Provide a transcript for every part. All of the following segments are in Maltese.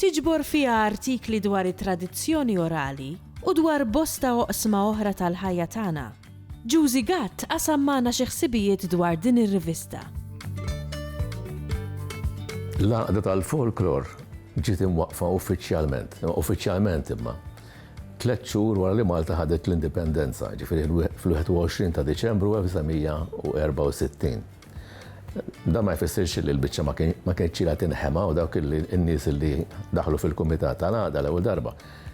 Tiġbor fiha artikli dwar it-tradizzjoni orali u dwar bosta oqsma oħra tal-ħajja tagħna. Juzi Gatt qasam magħna xi ħsibijiet dwar din ir-rivista. L-Għaqda tal-Folklor ġiet imwaqqfa uffiċjalment, uffiċjalment imma, tliet xhur wara li Malta ħadet l-Indipendenza, ġifieri fl-21 ta' Diċembru 1964. Dan ma jfissirx li l-biċċa ma kienx ċila tinħema u dawk in-nies li daħlu fil-kumitat tal-għada l-ewwel darba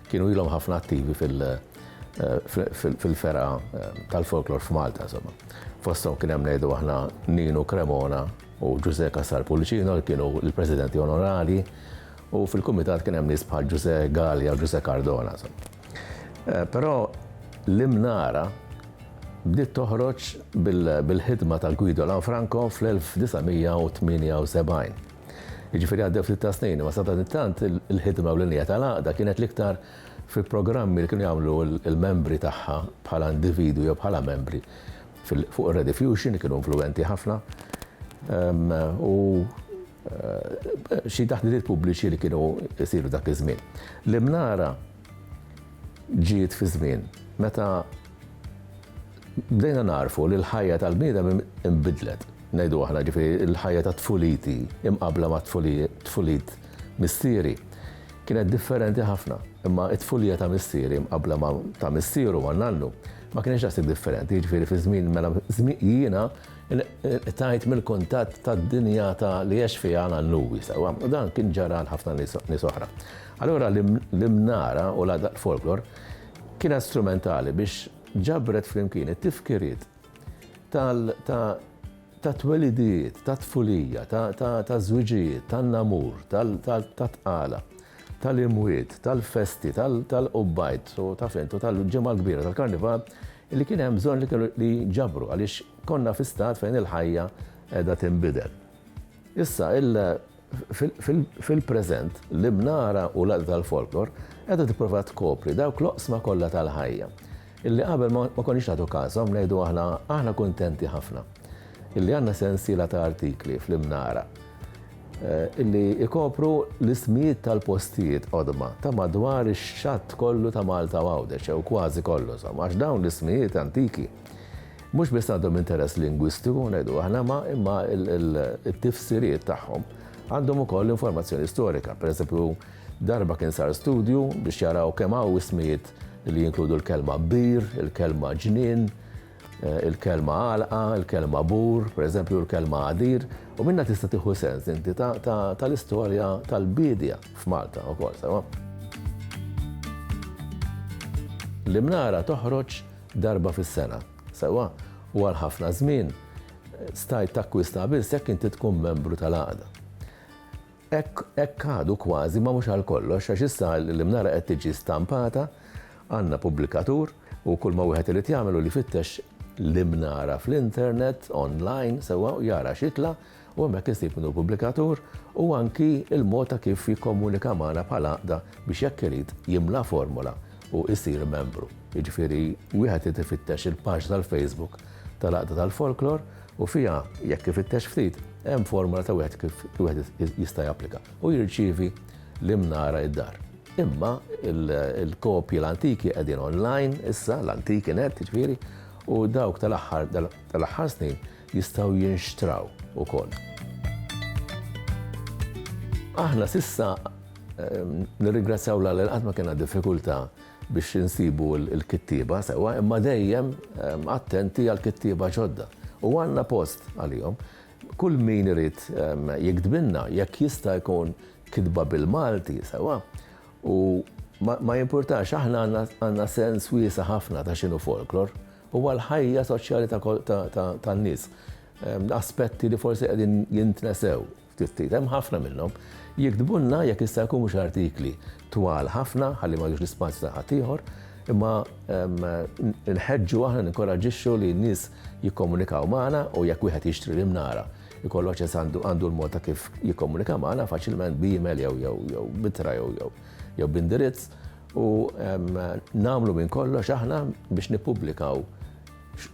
kienu ilhom ħafna attivi fil-fergħa eh, tal-folklor f'Malta insomma. Fosthom kien hemm ngħidu aħna Ninu Cremona u Ġużè Kassar Pulicino li kienu l-presidenti onorali u fil-kumitat kien hemm nies bħal Ġużè Gallia u Ġużè Cardona insomma. Però l-Imnara bdiet toħroġ bil-ħidma ta' Guido Lanfranco fl-1978. Jiġifieri għaddew ftit ta' snin, ma sadanittant il-ħidma u l-inja tal-għaqda kienet l-iktar fi programmi li kienu jagħmlu l-membri tagħha bħala individwi jew bħala membri fuq ir-Rediffusion li kienu influwenti ħafna. U xi taħditiet pubbliċi li kienu jsiru dak iż-żmien. L-Imnara ġiet fi żmien meta bdejna nagħrfu li l-ħajja tal-bniedem inbidlet, ngħidu aħna, ġifieri l-ħajja tat-tfuliti imqabbla mat-tfulit missieri kienet differenti ħafna. Imma t-tfulija ta' missieri mqabbla ma' ta' missieru, ma' nannu, ma kienx daqshekk differenti, jiġifieri fi żmien mela jiena Inqtajt mill-kuntatt tad-dinjata li għex fiha Alan Lewis, u dan kien ġara għal ħafna nies oħra. Allura l-imnara u l-għadaq folklor kienet strumentali biex ġabret flimkien it-tifkiriet ta' twelidijiet, ta' tfulija, ta' żwiġijiet, ta' namur, ta' tqala, tal-imwiet, tal-festi, tal-qubbajt, ta' fentu, tal-ġimgħa l-kbira, tal-karnival, Li kien hemm bżonn li kellu li jġabru għaliex konna fi stat fejn il-ħajja qiegħda tinbidel. Issa il fil-preżent, l-Ibnara u l-Għaqda tal-Folklor qiegħda tipprova tkopri dawk l-oqsma kollha tal-ħajja illi qabel ma konniex nagħtu każhom, ngħidu aħna, aħna kuntenti ħafna. illi għandna sensiela ta' artikli fl-Imnara illi ikopru l-ismijiet tal-postijiet qodma ta' madwar ix-xatt kollu ta' Malta u Għawdex, jew kważi kollu insomma, għax dawn l-ismijiet antiki mhux biss għandhom interess lingwistiku ngħidu aħna ma imma t-tifsiriet tagħhom għandhom ukoll informazzjoni storika. Pereżempju, darba kien sar studju biex jaraw kemm hawn ismijiet li jinkludu l-kelma bir, il-kelma ġnien, Il-kelma għalqa, il-kelma bur, pereżempju l-kelma għadir, u minnha tista' tieħu sens inti tal-istorja tal-biedja f'Malta wkoll, sewwa. L-Imnara toħroġ darba fis-sena, sewwa, u għal ħafna żmien stajt takkwista biss jekk inti tkun membru tal-għaqda. Hekk, hekk għadu kważi, ma mhux għal kollox, għax issa l-imnara qed tiġi stampata, għandna pubblikatur, u kulma wieħed irid jagħmel hu li jfittex l-imnara fl-internet, online, sewwa, u jara x'jitla', u hemmhekk isib min hu l-pubblikatur, u anki l-mod ta' kif jikkomunika magħna bħal għaqda biex jekk irid jimla formola u jsir membru. Jiġifieri wieħed irid ifittex il-paġna tal-Facebook tal-Għaqda tal-Folklor, u fiha, jekk ifittex ftit, hemm formola ta' wieħed kif wieħed jista' japplika, u jirċievi l-imnara id-dar. Imma l-kopji l-antiki qegħdin online issa, l-antiki net, jiġifieri, u dawk tal-aħħar tal-aħħar snin jistgħu jinxtraw ukoll. Aħna s'issa nirringrazzjaw lil Alla li qatt ma kellna diffikultà biex insibu l-kittieba sewwa imma dejjem attenti għall-kittieba ġodda u għandna post għalihom. Kull min irid jiktbilna jekk jista' jkun kitba bil-Malti sewwa u ma jimpurtax aħna għandna sens wiesa' ħafna ta' x'inhu folklor. Huwa l-ħajja soċjali tan-nies. Aspetti li forsi qegħdin jintnesew. Ftit ftit, hemm ħafna minnhom, jiktbulna jekk jista' jkun mhux artikli twal ħafna ħalli ma jiħdux l-ispazju ta' ħaddieħor, imma nħeġġu aħna ninkoraġġixxu li n-nies jikkomunikaw magħna u jekk wieħed jixtri l-imnara jkollu aċċess għandu għandu l-mod ta' kif jikkomunika magħna faċilment b'email jew jew jew b'ittra jew jew jew b'indirizz u nagħmlu minn kollox aħna biex nippubblikaw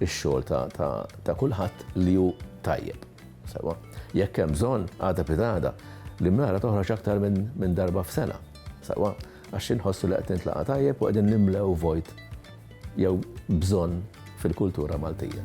ix-xogħol ta' ta' ta' kulħadd li hu tajjeb. Sewwa, jekk hemm bżonn, għada pi għada, l-imnara toħroġ aktar minn darba f'sena. Sewwa, għax inħossu li qed nintlaqa' tajjeb u qegħdin nimlew vojt jew bżonn fil-kultura Maltija.